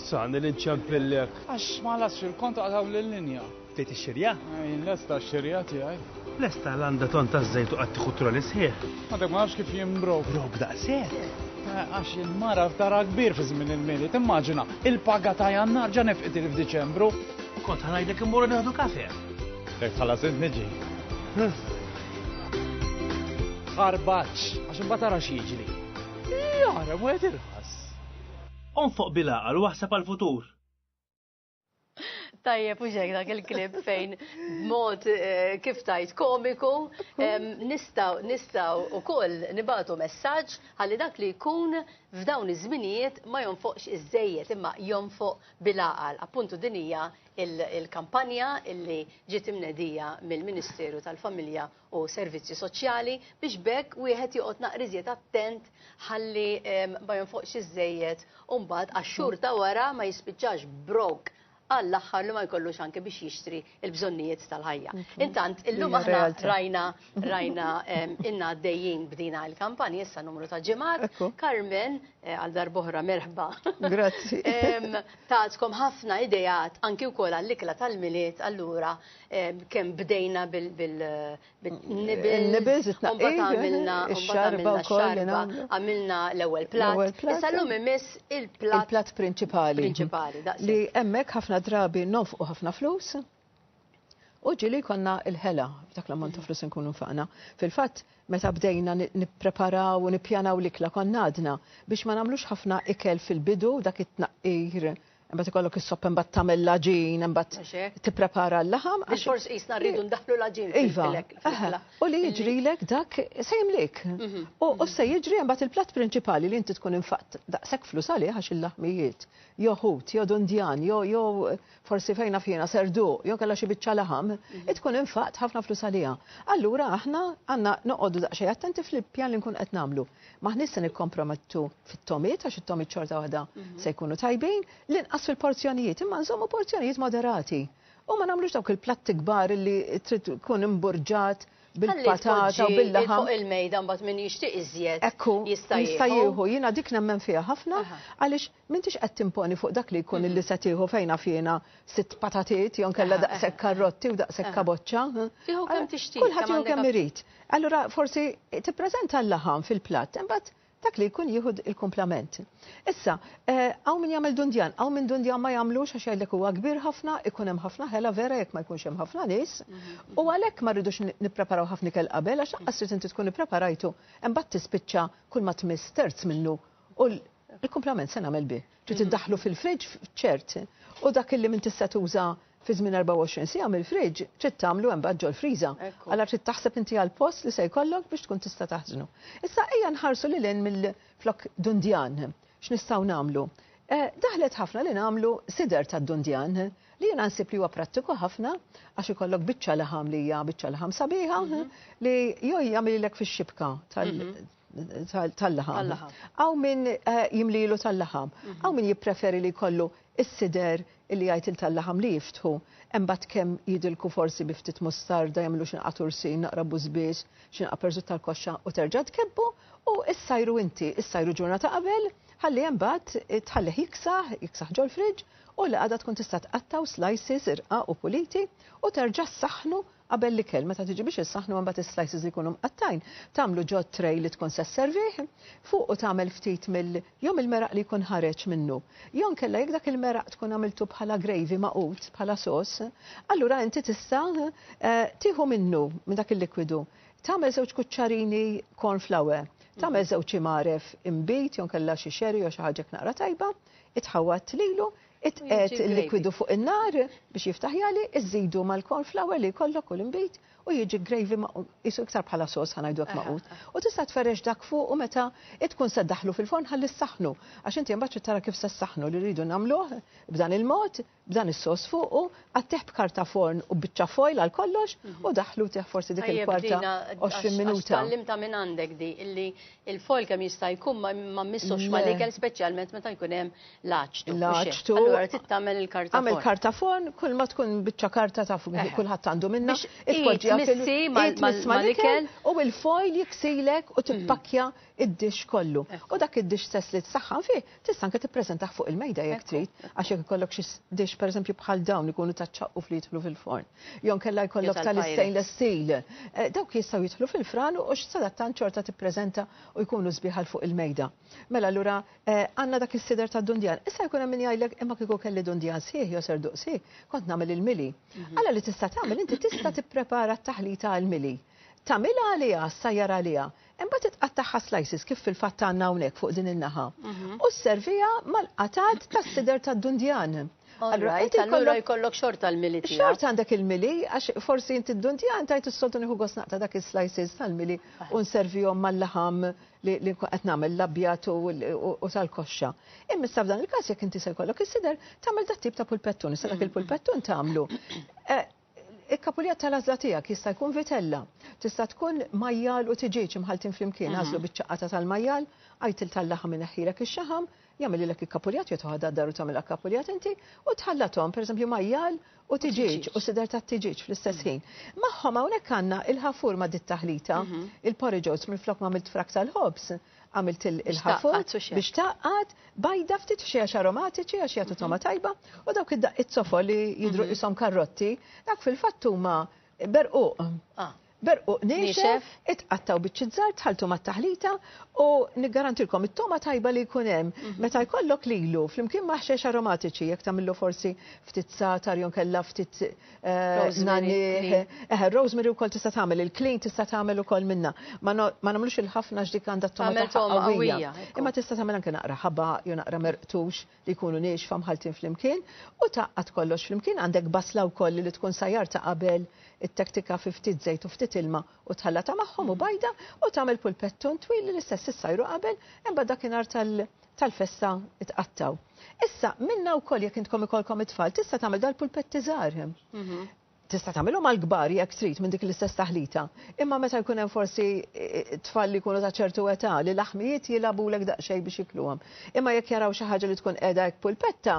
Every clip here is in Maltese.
Sa, nil inċempillek. Għax ma las fil-kont għadaw l-linja. Tejt ix-xirja? Jien lesta x-xirja tiegħi. Lesta l-għanda ton ta' żejt u qattiħu troli sħiħ. Għadek ma nafx kif jien brok. Brok daqshekk. Eh, għax il-mara ftara kbir fi żmien il-mili, timmaġina, il-paga ta' jannar ġa nefqit il-f'Diċembru. Kont ħanajdek immorru neħdu kafe. Jekk tħallas int niġi. Ħarbaċ, għax imbagħad ara x'jiġri. Jara, wieħed irħas. Onfoq bil-għaqal u waħseb għall-futur. Tajjeb u ġek dak il-klib fejn mod eh, kif tajt komiku nistaw nistaw u koll nibatu messaġġ għalli dak li jkun f'dawn iż-żminijiet ma jonfoqx iż-żejjed imma jonfoq bil-aqal. Appuntu dinija il-kampanja illi ġiet imnedija mill-Ministeru tal-Familja u Servizzi Soċjali biex bekk wieħed joqgħod naqriżiet attent ħalli ehm, ma jonfoqx iżejjed u mbagħad għax-xhur ta' wara ma jispiċċax brok għall-aħħar li ma jkollux anke biex jixtri il-bżonnijiet tal-ħajja. Intant, illum aħna rajna Rajna inna għaddejjin b'dina il-kampanja issa numru ta' ġimgħat. Carmen eh, għal darbohra merħba. Grazzi. Tatkom ħafna idejat anki wkoll għall-ikla tal-miliet allura kemm bdejna bil nibils mbagħad għamilna xarba għamilna l-ewwel plat. Issa llum imiss il-plat prinċipali. Prinċipali, Li hemmhekk ħafna drabi nofqu ħafna flus. U ġili jkollna l-ħela f'dak l-ammont ta' mm. flus nkunu nfaqna. Fil-fatt, meta bdejna nippreparaw u nippjanaw l-ikla konna għadna biex ma nagħmlux ħafna ikel fil-bidu dak it-tnaqqir Imbagħad ikollok is-sopp imbagħad tagħmel l-aġin, imbagħad tipprepara l-laħam. Għax forsi jisna rridu ndaħlu l-aġin. Iva, u li jiġrilek dak se jimlik. Mhm. U se jiġri imbagħad il-platt prinċipali li inti tkun infatt daqshekk flus għalih għax il-laħmijiet, jew ħut, jew dundjan, jew forsi fejn naf jiena serduq jew kellha xi biċċa laħam, mhm. tkun infaqt ħafna flus għaliha. Allura aħna għandna noqogħdu daqsxejn attenti fl-pjan li nkun qed nagħmlu. Maħniex se nikkompromettu fit-tomiet għax it-tomiet xorta waħda mhm. se jkunu tajbin, l-inqas fil-porzjonijiet, imma nżommu porzjonijiet moderati. U ma nagħmlux dawk il-platti kbar li trid tkun imburġat bil-patata u bil-laħam. Fuq il-mejda mbagħad min jixtieq iżjed. Ekku, jista' jieħu. Jiena dik nemmen fiha ħafna għaliex M'intix qed timponi fuq dak li jkun illi se tieħu fejn af jiena sitt patatiet jew inkella daqshekk karrotti u daqshekk kaboċċa. Tieħu kemm tixtieq. Kulħadd jieħu kemm irid. Allura forsi tippreżenta l-laħam fil-platt imbagħad dak li jkun jieħu il-kumplament. Issa, hawn min jagħmel dundjan, hawn min dundjan ma jagħmlux għax jgħidlek huwa kbir ħafna, ikun hemm ħafna ħela vera jekk ma jkunx hemm ħafna nies u għalhekk ma rridux nippreparaw ħafna ikel qabel għax lanqas trid inti tkun ippreparajtu imbagħad tispiċċa kull ma tmiss terz minnu U l-kumplament se nagħmel bih? Trid iddaħħlu fil-fridge ċert u dak illi m'intix se tuża fi żmien 24 siegħa mill-fridge trid tagħmlu hemm bad ġol-friża. Allura trid taħseb inti għall-post li se jkollok biex tkun tista' taħżnu. Issa ejja nħarsu lil hinn mill-flokk dundjan. X'nistgħu nagħmlu? Eh, daħlet ħafna li nagħmlu sider tad-dundjan li jiena nsib li huwa prattiku ħafna għax ikollok biċċa laħam li hija biċċa laħam sabiħa mhm. li jew jagħmililek fix-xibka tal mhm. tal-laħam. Għaw min eh, jimlilu tal-laħam. Għaw mhm. min jippreferi li kollu s-sider li jgħajt il-tal-laħam li jiftħu. Embat kem jidilku forsi biftit mustarda jamlu xinqa tursin, naqra buzbiex, xinqa perżut tal-koxxa u terġa tkebbu u issajru inti, issajru ġurnata qabel, ħalli jembat eh, tħallih jiksaħ, jiksaħ ġol friġ u li għada tkun tista' tqattaw slices irqa u puliti u terġa' saħnu Qabel l-ikel, meta tiġi biex issaħħnu imbagħad is-slices li jkunu mqattgħin tagħmlu ġo tray li tkun se sservih, fuqu tagħmel ftit mill jew mill-meraq li jkun ħareġ minnu. Jew inkella jekk dak il-meraq tkun għamiltu bħala gravy magħqud, bħala sos, allura inti tista' tieħu minnu, minn dak il-likwidu, tagħmel żewġ kuċċarini corn flour, tagħmel żewġ imgħaref imbit jew inkella xi sherry jew xi ħaġa hekk naqra tajba, itħawwad lilu, Itqegħed il-likwidu fuq in-nar biex jiftaħ jagħli, iżżidu mal-corn flour li jkollok u l-inbid u jiġi gravy maqu, qisu iktar bħala sos ħa ngħidu hekk maqut. U tista' tferrex dak fuqu meta tkun se ddaħħlu fil-forn ħalli ssaħħnu, għax inti imbagħad trid tara kif se ssaħħnu li rridu nagħmluh b'dan il-mod, b'dan is-sos fuqu, għattih b'karta forn u b'biċċa foil għal kollox u daħħlutih forsi dik il-kwarta 20 minuta. Tgħallimta minn għandek di illi il-foil kemm jista' jkun ma mmissux mal-ikel speċjalment meta jkun hemm Laċtu. Laċtu. Allora tittamel il-kartafon. Għamel kartafon, kull ma tkun bicċa karta taf eh. kulħadd għandu minna. Itpoġġiha missi mal-ikel u il-foil jiksilek u tippakja id-dix kollu. U dak id-dix sess li t-saxħan fi, tista' anke tippreżentah fuq il-mejda jekk trid, għax jekk ikollok xi dix pereżempju bħal dawn ikunu taċċaqqu fli jidħlu fil-forn. Jon kella jkollok tal-stainless steel. Eh, dawk jistgħu jidħlu fil-fran u x'sadattan ċorta tippreżenta u jkunu sbiħal fuq il-mejda. Mela allura Eh, għanna dak il-sider ta' dundjan. Issa jkun hemm min jgħidlek imma kieku kelli dundjan sieħ jew ser duqsi, kont nagħmel il-mili. Mhm. Alla li tista' tagħmel inti tista' tipprepara t-taħlita għall-mili. Tagħmilha għaliha, sajjar għaliha. Imbagħad titqattaħħa slices kif fil-fatt għandna hawnhekk fuq din in-naħa. Mhm. U sservija mal-qatat tas-sider ta' dundjan. Allura, inti allura jkollok xort tal-mili tiegħek. Xort għandek il-mili, għax forsi inti d-dundjan tajt is-soltu nieħu gosnaq ta' dak is-slices tal-mili u nservihom mal-laħam li nkun qed nagħmel l-abjad u tal-koxxa. Imma issa f'dan il-każ jekk inti se jkollok is-sider tagħmel dat tip ta' pulpettun, issa dak mm. il-pulpettun tagħmlu. Eh, il-kapuljat tal-għażla tiegħek jista' jkun vitella, tista' tkun majjal u tiġieġ imħaltin flimkien, mhm. għażlu biċ-ċaqata tal-majjal, għajt il tal-laħam ineħħilek ix-xaħam, jagħmililek ikkapuljat jew toħodha d-dar u tagħmilha kkapuljat inti u tħallathom, pereżempju majjal u tiġieġ u sider tat-tiġieġ fl-istess ħin. Magħhom hawnhekk għandna il-ħafur ma' dit taħlita, il-porridge oats minflok m'għamilt frak tal-ħobż, għamilt il-ħafur biex tgħaqqad, bajda ftit xi għax aromatiċi għax jagħtu togħma tajba u dawk id-daqqiet zofol li jidhru qishom karrotti, dak fil-fatt huma berquq. Berquq niexef, itqatta' u biċċiet żgħar tħalltu mat-taħlita u niggarantilkom it-togħma tajba li jkun hemm meta jkollok lilu flimkien ma' ħxejjex aromatiċi jekk tagħmillu forsi ftit zagħtar jew inkella ftit nagħniegħ. Eħe, r-rosemary wkoll tista' tagħmel, il-klin tista' tagħmel ukoll minnha. Ma nagħmlux il-ħafna għax dik għandha t-togħma tagħha qawwija. Imma tista' tagħmel anke naqra ħabaq jew naqra merqtux. li jkunu niexfa mħalltin flimkien u tgħaqqad kollox flimkien, għandek basla wkoll li tkun sajjartha qabel ittektika fi ftit żejt u ftit ilma u tħallatha magħhom u bajda u tagħmel pulpettun twil li l-istess issajru qabel imbagħad dakinhar tal tal-festa tqattgħu. Issa, minnha wkoll jekk intkom ikollkom it-tfal tista' tagħmel dal-pulpetti żgħar. Mhm. Tista' tagħmilhom għall-kbar jekk trid minn dik l-istess taħlita, imma meta jkun hemm forsi tfal li jkunu ta' ċertu età li l-aħmijiet jilgħabulek daqsxejn biex jikluhom. Imma jekk jaraw xi ħaġa li tkun qiegħda hekk pulpetta,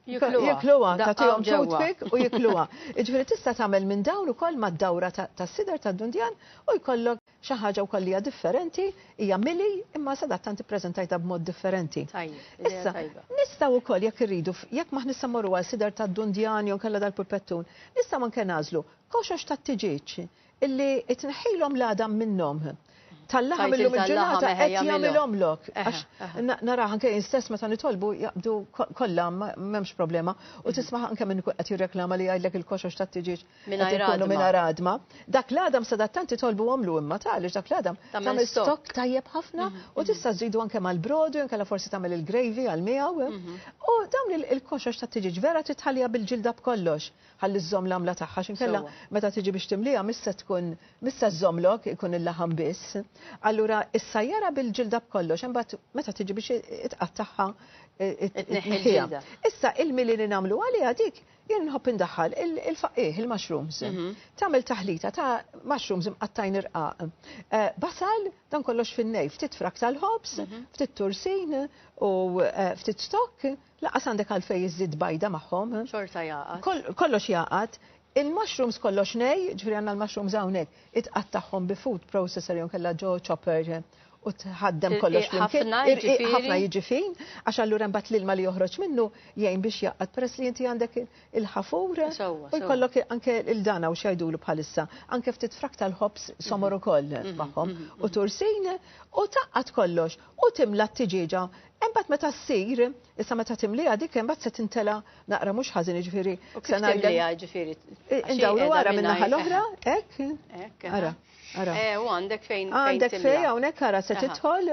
jikluha, tagħtihom toothpick u jikluha. Jiġifieri tista' tagħmel minn dawn ukoll mad-dawra tas-sider tad-dundjan u jkollok Xi ħaġa wkoll li hija differenti hija Millie imma sadattant ippreżentajtha b'mod differenti. Tajjeb, idea Issa, tajba. nistgħu wkoll jekk irridu, f- jekk m'aħna issa mmorru għal sider tad-dundjan jew inkella dal-purpettun, nistgħu anke nagħżlu koxox tat-tiġieġ illi tneħħilhom l-għadam minnhom. Tal-laħam Tgħid illum il-tal-laħam, il-ġurnata eħe, qed jagħmilhom. jagħmilhomlok. Eħe, Għax eħe. na- naraha anke jien stess meta nitolbu jaqbdu ko- kollha ma- m'hemmx problema u tisma' anke minn qed jirreklama li jgħidlek il-koxox tat-tiġieġ Mingħajr ikunu mingħajr għadma. Dak l-għadam sadattant titolbu għamlu imma tali dak l-għadam tagħmel stok tajjeb ħafna mhm, u mhm. tista' żidu anke mal-brodu jew kellha forsi tagħmel il-gravy għal miegħu. Eh? Mhm. U dawn il-koxox ta' tiġiġ vera titħallija bil-ġilda b'kollox ħalli żżomm l-għamla tagħha xinkella meta tiġi biex timliha missa tkun missa żżommlok ikun il-laħam biss. Allura is-sajjara bil-ġilda b'kollox imbagħad meta tiġi biex itqattaħħa eh, eh, Issa il-mili li nagħmlu għaliha dik Jien nħobb indaħħal il-faqqieħ, il-mushrooms. Mhm. Tagħmel taħlita ta' mushrooms imqattajn irqaq. Eh, basal, dan kollox fin-nej, ftit frak tal-ħobs, mhm. ftit tursin u eh, ftit stokk, laqas għandek għalfej iżid bajda magħhom. Xorta jaqat. Kollox jaqat. Il-mushrooms kollox nej, ġifri għanna l-mushrooms għawnek, it-qattaħħom bi food processor jom kella ġo chopper u tħaddem kollox flimkien. Ħafna jiġifin, għax allura mbagħad l-ilma li joħroġ minnu jgħin biex jaqgħad peress li inti għandek il-ħafur u jkollok anke il-dana u xajdulu bħalissa, anke ftit frak tal-ħobs somor mhm. ukoll mhm. magħhom mhm. u tursin u taqqat kollox u timla t-tiġiġa Imbagħad meta ssir, issa meta timliha dik imbagħad se tintela naqra mhux ħażin jiġifieri. Se ngħidilha jiġifieri. Indawru wara min-naħa l-oħra, hekk. Ara. Eh, u għandek fejn. Għandek fejn, għonek għara se titħol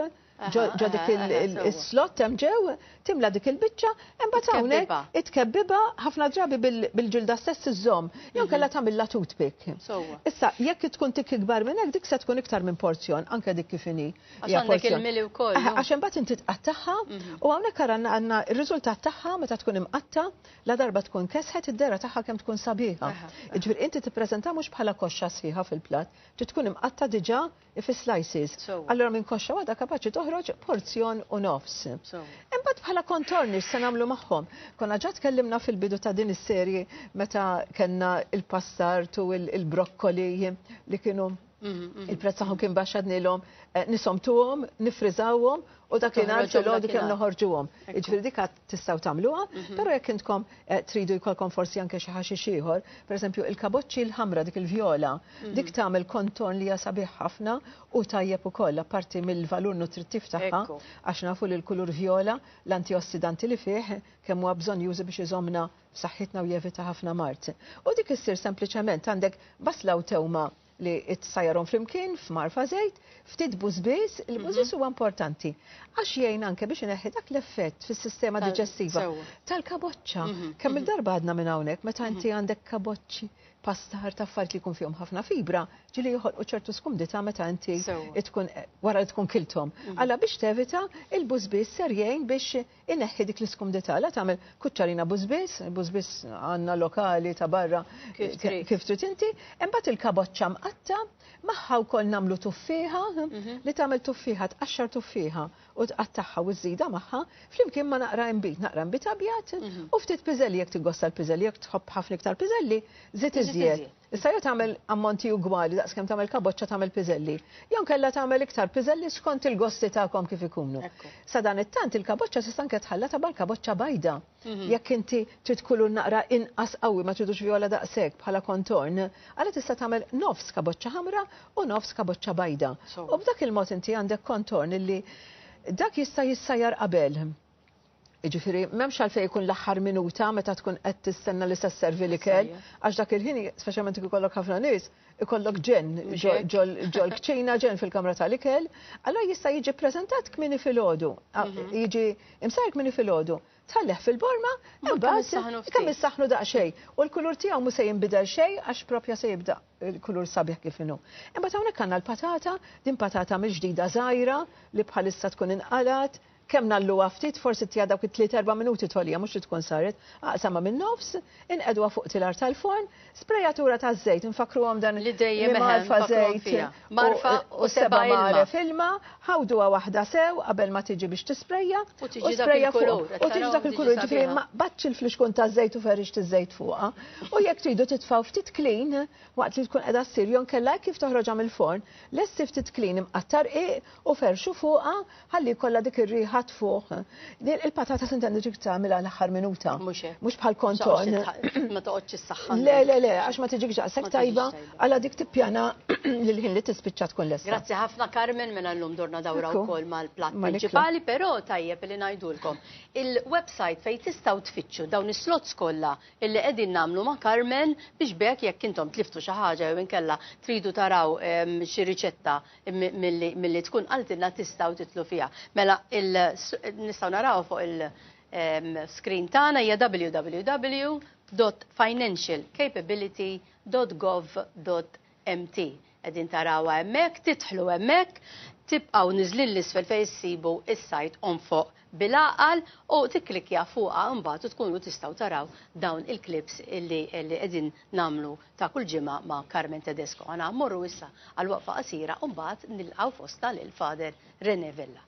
ġo dik il-slot hemm ġew timla dik il-biċċa, imbagħad hawnhekk itkebbiba ħafna drabi bil-ġilda stess iżżomm, jew mhm. kellha tagħmilha toothpick. Issa jekk tkun tik ikbar minn hekk dik se tkun iktar minn porzjon anke dik kif inhi. Għax il-mili wkoll. Għax imbagħad inti tqattagħha mhm. u hawnhekk għandna r-riżultat tagħha meta tkun imqatta Ladarba tkun kesħet id-dehra tagħha kemm tkun sabiħa. Jiġifieri inti tippreżentha mhux bħala koxxa sħiħa fil-platt, trid tkun imqatta' diġà fi slices. Allura minn koxxa waħda kapaċi toħroġ porzjon u nofs. Imbagħad bħala kontorni x'se nagħmlu magħhom? Konna ġa tkellimna fil-bidu ta' din is-serje meta kellna l-passart u l-brokkoli li kienu Il-prezz tagħhom kien baxx għadnilhom eh, nisomtuhom, nifriżawhom u dak li nhar filgħodu kemm noħorġuhom. Jiġifieri dik tistgħu tagħmluha, mhm. però jekk intkom eh, tridu jkollkom forsi anke xi ħaxix ieħor, pereżempju il-kaboċċi l-ħamra dik il-vjola, mhm. dik tagħmel kontorn li hija sabiħ ħafna u tajjeb ukoll apparti mill-valur nutrittiv tagħha għax nafu li l-kulur vjola l-antiossidanti li fih kemm huwa bżonn jużi biex iżomna f'saħħitna u jevita ħafna mard. U dik issir sempliċement għandek basla u tewma li t-sajarhom flimkien f'marfa żejt, ftit bużbiż, il-bużbiż mhm. huwa importanti. Għax jgħin anke biex ineħħi dak l-effett fis-sistema diġestiva tal-kaboċċa. Mhm. Kemm mhm. il-darba għadna minn hawnhekk meta inti għandek kaboċċi pastar ta' affarijiet li jkun fihom ħafna fibra, ġili joħolqu ċertu skumdita meta inti tkun wara li tkun kiltom. Alla biex tevita il-bużbiż ser jgħin biex Ineħħi dik l-iskumdità, la tagħmel kuċċarina bużbiż, bużbiż għandna lokali ta' barra kif trid inti, imbagħad il-kaboċċa mqatta' magħha wkoll nagħmlu tuffieħa, li tagħmel tuffieħa tqaxxar tuffieħa u tqattagħha u żżidha magħha flimkien ma' naqra inbid, naqra inbid abjad u ftit piżelli jekk tiggosta l-piżelli, jekk tħobb ħafna iktar piżelli żid iżjed. Issa jew tagħmel ammonti ugwali daqs kemm tagħmel kaboċċa tagħmel piżelli, jew nkella tagħmel iktar piżelli skont il-gosti tagħkom kif ikunu. Sadanittant il-kaboċċa tista' anke tħallatha bħall-kaboċċa bajda. Mhm. Jekk inti trid kulur naqra inqas qawwi ma tridux vjola daqshekk bħala kontorn, għala tista' tagħmel nofs kaboċċa ħamra u nofs kaboċċa bajda. U b'dak il-mod inti għandek kontorn illi dak jista' jissajjar qabel. Jiġifieri m'hemmx għalfejn ikun l-aħħar minuta meta tkun qed tistenna li se sservi l-ikel, għax dak il-ħin, speċjalment jekk ikollok ħafna nies, ikollok ġenn ġol-kċina, ġenn fil-kamra tal-ikel, allura jista' jiġi ppreżentat kmieni filgħodu, mhm. jiġi imsajr kmieni filgħodu, tħalleh fil-borma, imbagħad kemm issaħħnu daqsxejn. U l-kulur tiegħu mhux se jinbidel xejn għax propja se jibda l-kulur sabiħ kif inhu. Imbagħad hawnhekk għandna l-patata, din patata mill-ġdida żgħira li bħalissa tkun inqalat, Kemm ngħalluha ftit, forsi tiha dawk it-tliet erba' minuti togħliha mhux li tkun saret, aqsamha min-nofs, inqegħduha fuq tilar tal-forn, sprejatura ta' żejt, infakkruhom dan li dejjem marfa żejt marfa u seba' magħref ilma, ħawduha waħda sew qabel ma tiġi biex tisprejja u sprejja fuq u tiġi dak il-kulur ġifieri ma qbadx il-flixkun ta' żejt u ferrix tiż-żejt fuqha. U jekk tridu titfgħu ftit klin waqt li tkun qiegħda ssir jew kella kif toħroġha mill-forn, lessi ftit klin imqattar qiq u ferxu fuqha ħalli jkollha dik ir-riħa tfuq. Il-patata tintendi ġib tagħmilha l-aħħar minuta. Mhux bħal konton. Ma toqgħodx is-saħħa. Le, le, le, għax ma tiġik ġaqsek tajba għala dik tippjana lil ħin li tispiċċa tkun lesta. Grazzi ħafna Carmen minn mela llum dorna dawra wkoll mal-platt prinċipali, però tajjeb li ngħidulkom. Il-website fejn tistgħu tfittxu dawn is-slots kollha illi qegħdin nagħmlu ma' Carmen biex bekk jekk intom tliftu xi ħaġa jew inkella tridu taraw ehm, xi riċetta milli tkun qaltilna tistgħu titlu fiha. Mela nistgħu naraw fuq il-screen ehm, tagħna hija www.financialcapability.gov.mt. Qegħdin tarawha hemmhekk, titħlu hemmhekk, tibqgħu niżlin l-isfel fejn issibu is-sajt on fuq bil-aqal u tikklikja fuqha mbagħad u tkunu tistgħu taraw dawn il-klips li qegħdin nagħmlu ta' kull ġimgħa ma' Carmen Tedesco. Għana mmorru issa għal waqfa qasira u mbagħad nilqgħu fostna lil Father Rene Vella.